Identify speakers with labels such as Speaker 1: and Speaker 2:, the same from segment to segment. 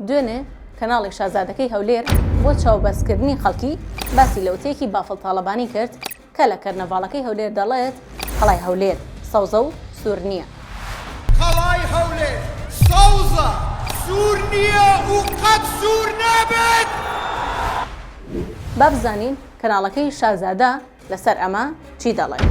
Speaker 1: دوێنێ کەناڵی شازادەکەی هەولێر بۆ چاوبەستکردنی خەڵکی باسی لە وتەیەکی بافڵ تاڵەبانی کرد کە لە کەرنەڤاڵەکەی هەولێر دەڵێت قەڵای هەولێر سەوزە و سوور نییە. قەڵای
Speaker 2: هەولێر سەوزە، سوور نییە و قەت سوور نابێت.
Speaker 1: با بزانین کەناڵەکەی شازادە لەسەر ئەمە چی دەڵێت.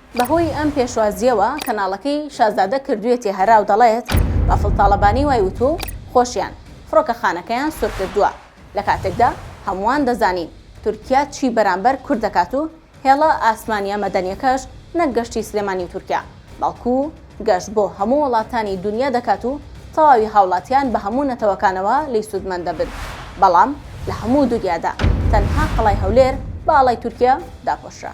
Speaker 1: بەهۆی ئەم پێشوازییەوە کەناڵەکەی شازادە کردوویەتی هەرا و دەڵێت، بافڵ تاڵەبانی وای وتووە و خۆشیان فڕۆکەخانەکەیان سورکردووە، لە کاتێکدا هەمووان دەزانین تورکیا چی بەرامبەر کورد دەکات و هێڵە ئاسمانییە مەدەنییەکەش نەک گەشتی سلێمانی و تورکیا، بەڵکو گەشت بۆ هەموو وڵاتانی دونیا دەکات و تەواوی هاوڵاتیان بە هەموو نەتەوەکانەوە لێی سوودمەند دەبن، بەڵام لە هەموو دونیادا تەنها قەڵای هەولێر بە ئاڵای تورکیا داپۆشرا.